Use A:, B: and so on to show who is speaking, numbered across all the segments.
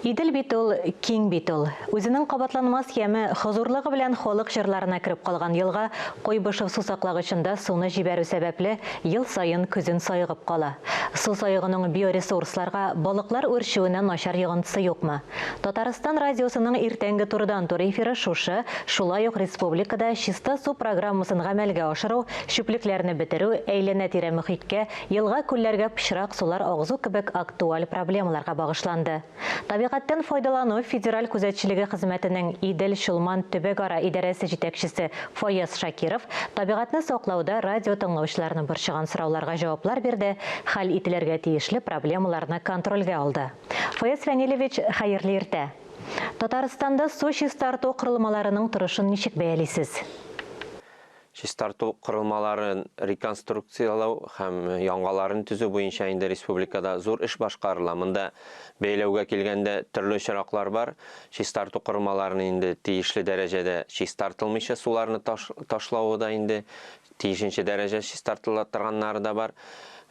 A: Идел бит ул, киң бит ул. Үзенең кабатланмас яме, хозурлыгы белән халык җырларына кереп калган елга Куйбышев сусаклагычында суны җибәрү сәбәпле, ел саен көзен саегып кала. Су саегуның биоресурсларга, балыклар үрчүенә начар йогынтысы юкмы? Татарстан радиосының иртәнге турыдан-тур эфиры шушы, шулай ук республикада Чиста су программасын гамәлгә ашыру, чүплекләрне бетерү, әйләнә-тирә мөхиткә Елга-күлләргә пычрак сулар агызу кебек актуаль проблемаларга багышланды. Табигатьтән файдалану федераль күзәтчелеге хезмәтенең Идел, Чулман төбәгара идарәсе җитәкчесе Фаяз Шакиров табигатьне саклауда радиотыңлаучыларны борчыган сорауларга җаваплар бирде, хәл ителергә тиешле проблемаларны контрольгә алды. Фаяз Фәнилевич, хәерле иртә! Татарстанда су чистарту корылмаларының торышын ничек бәялисез?
B: Чистарту корылмаларын реконструкцияләү һәм яңаларын төзү буенча инде республикада зур эш башкарыла. Монда, бәяләүгә килгәндә, төрле очраклар бар. Чистарту корылмаларын инде тиешле дәрәҗәдә чистартылмыйча суларны ташлавы да инде тиешенчә дәрәҗә чистартыла торганнары да бар.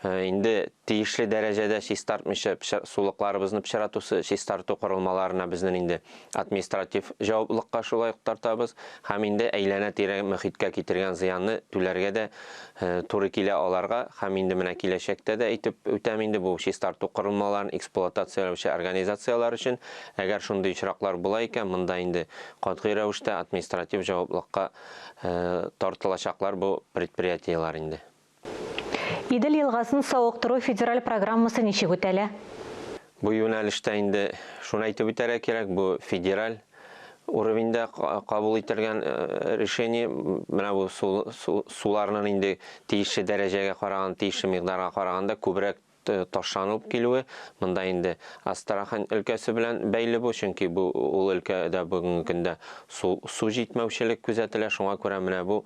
B: Инде тиешле дәрәҗәдә чистартмыйча сулыкларыбызны пычратусы чистарту корылмаларына безнең инде Административ җаваплылыкка шулай ук тартабыз һәм инде әйләнә-тирә мөхиткә китергән зыянны түләргә дә туры килә аларга һәм инде менә киләчәктә дә әйтеп үтәм инде бу чистарту корылмаларын эксплуатацияләүче организацияләр өчен әгәр шундый очраклар була икән монда инде катгый рәвештә административ җаваплылыкка тартылачаклар бу предприятиеләр инде.
A: Идел елгасын савыктыру федераль программасы ничек үтәлә? Бу
B: юнәлештә инде шуны әйтеп үтәргә кирәк, бу федераль уровеньдә кабул ителгән решение. Менә бу суларнын инде тиешле дәрәҗәгә караганда, тиешле микъдарга караганда күбрәк ташланылып килүе, монда инде Астрахань өлкәсе белән бәйле бу, чөнки бу ул өлкәдә бүгенге көндә су җитмәүчелек күзәтелә, шуңа күрә менә бу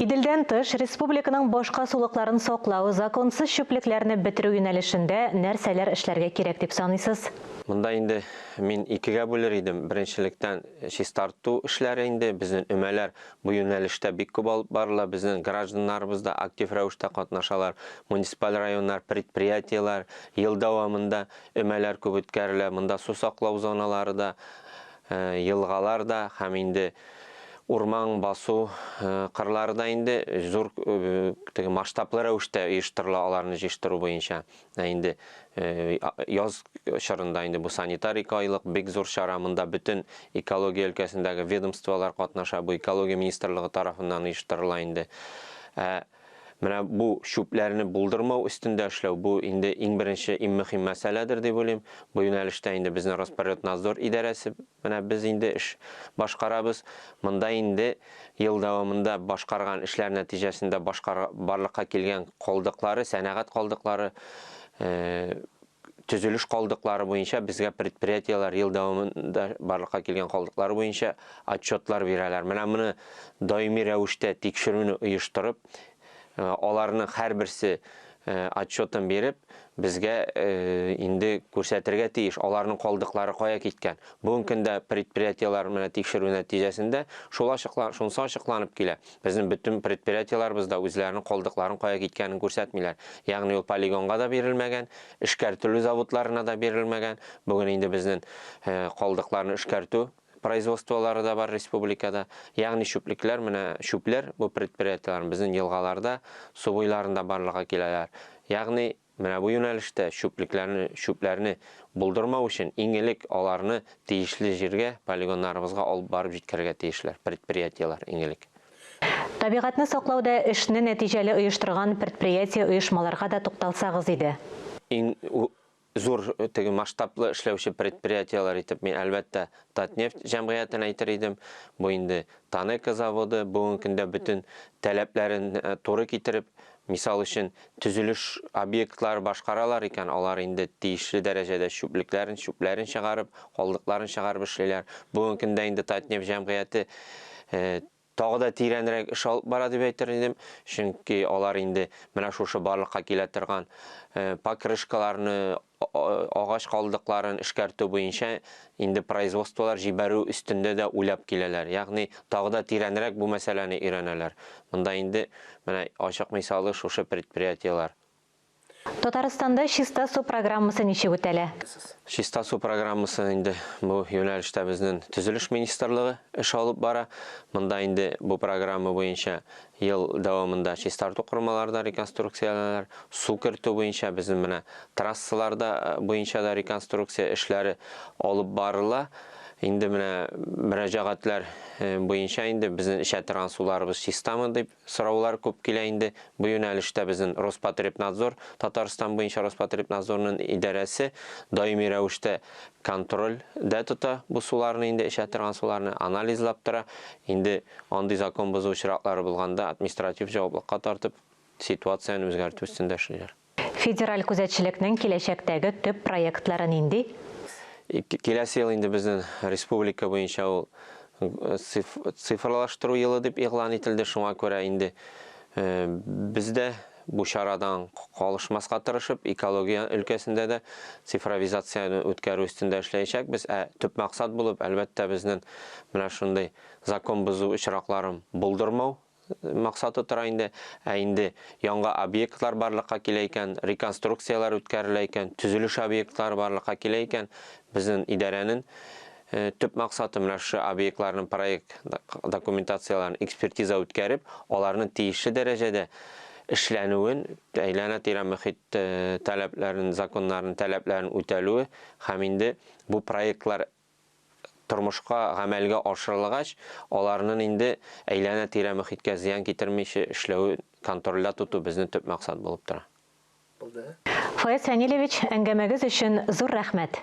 B: Иделдән тыш,
A: республиканың башка сулыкларын саклау, законсыз чүплекләрне бетерү юнәлешендә нәрсәләр эшләргә кирәк дип саныйсыз? Монда инде
B: мин икегә бүлер идем. Беренчелектән, чистарту эшләре инде. Безнең өмәләр бу юнәлештә бик күп алып барыла. Безнең гражданнарыбыз да актив рәвештә катнашалар. Муниципаль районнар, предприятиеләр ел дәвамында өмәләр күп үткәрелә. Монда су саклау зоналары да елгалар да һәм инде урман басу кырлары да инде зур теге масштаблы рәвештә оештырыла аларны җыештыру буенча. Ә инде яз чорында инде бу санитар ике айлык бик зур чара, монда бөтен экология өлкәсендәге ведомстволар катнаша, бу экология министрлыгы тарафыннан оештырыла инде. Ә Менә бу чүпләрне булдырмау өстендә эшләү, бу инде иң беренче, иң мөһим мәсьәләдер дип уйлыйм. Бу юнәлештә инде безнең Роспотребнадзор идарәсе менә без инде эш башкарабыз. Монда инде ел дәвамында башкарган эшләр нәтиҗәсендә башкар барлыкка килгән калдыклары, сәнәгать калдыклары, төзелеш калдыклары буенча безгә предприятиеләр ел дәвамында барлыкка килгән калдыклар буенча отчетлар бирәләр. Менә моны даими рәвештә тикшерүне оештырып, аларның һәрберсе отчетын биреп, безгә инде күрсәтергә тиеш, аларның калдыклары кая киткән. Бүгенге көндә предприятиеләр менә тикшерү нәтиҗәсендә шул ачыклар, шунысы ачыкланып килә. Безнең бөтен предприятиеләребез дә үзләренең калдыкларын кая киткәнен күрсәтмиләр. Ягъни ул полигонга да бирелмәгән, эшкәртелү заводларына да бирелмәгән. Бүген инде безнең калдыкларны эшкәртү производстволары да бар республикада. Ягъни чүплекләр, менә чүпләр, бу предприятиеләрнең безнең елгаларда, су буйларында барлыга киләләр. Ягъни. Менә бу юнәлештә чүплекләрне, чүпләрне булдырмау өчен иң элек аларны тиешле җиргә, полигоннарыбызга алып барып җиткерергә тиешләр предприятиеләр иң элек. Табигатьне
A: саклауда эшне нәтиҗәле оештырган предприятие, оешмаларга да тукталсагыз иде. Иң
B: зур теге масштаблы эшләүче предприятиеләр итеп мин, әлбәттә, Татнефть җәмгыятен әйтер идем. Бу инде Танеко заводы, бүгенге көндә бөтен таләпләрен туры китереп, Мисал өчен, төзелеш объектлары башкаралар икән, алар инде тиешле дәрәҗәдә чүплекләрен, чүпләрен чыгарып, калдыкларын чыгарып эшлиләр. Бүгенге көндә инде Татнефть җәмгыяте тагы да тирәнрәк эш алып бара дип әйтер идем, чөнки алар инде менә шушы барлыкка килә торган покрышкаларны Агач калдыкларын эшкәртү буенча инде производстволар җибәрү өстендә дә уйлап киләләр. Ягъни тагы да тирәнрәк бу мәсьәләне өйрәнәләр. Монда инде, менә ачык мисалы шушы предприятиеләр.
A: Татарстанда Чиста су программасы ничек үтәлә? Чиста су
B: программасын инде бу юнәлештә безнен Төзелеш министрлыгы эш алып бара. Монда инде бу программа буенча Ел дәвамында чистарту кормалары да реконструкцияләнәләр, су кертү буенча безнең менә трассалар да буенча да реконструкция эшләре алып барыла. Инде менә мөрәҗәгатьләр буенча инде безнең эчә торган суларыбыз чистамы дип сораулар күп килә инде. Бу юнәлештә безнең Роспотребнадзор, Татарстан буенча Роспотребнадзорның идарәсе даими рәвештә контрольдә тота бу суларны инде, эчә торган суларны анализлап тора. Инде Андый закон бозу очраклары булганда административ җаваплыкка тартып, ситуацияне үзгәртү өстендә эшлиләр. Федераль
A: күзәтчелекнең киләчәктәге төп проектлары нинди?
B: Киләсе ел инде безнең республика буенча ул цифрлаштыру елы дип игълан ителде, шуңа күрә инде без дә бу чарадан калышмаска тырышып, экология өлкәсендә дә цифровизацияне үткәрү өстендә эшләячәкбез. Ә төп максат булып, әлбәттә, безнең менә шундый Закон бозу очракларын булдырмау максаты тора инде. Ә инде яңа объектлар барлыкка килә икән, реконструкцияләр үткәрелә икән, төзелеш объектлары барлыкка килә икән, безнең идарәнең төп максаты менә шушы объектларның проект документацияләрен экспертиза үткәреп, аларның тиешле дәрәҗәдә эшләнүен, әйләнә-тирә мөхит таләпләрен, законнарын, таләпләрен үтәлүе һәм инде бу проектлар тормышка гамәлгә ашырылгач, аларнын инде әйләнә-тирә мөхиткә зыян китермиче эшләвен контрольдә тоту безнен төп максат булып тора. Фаяз
A: Фәнилевич,
B: әңгәмәгез
A: өчен
B: зур
A: рәхмәт!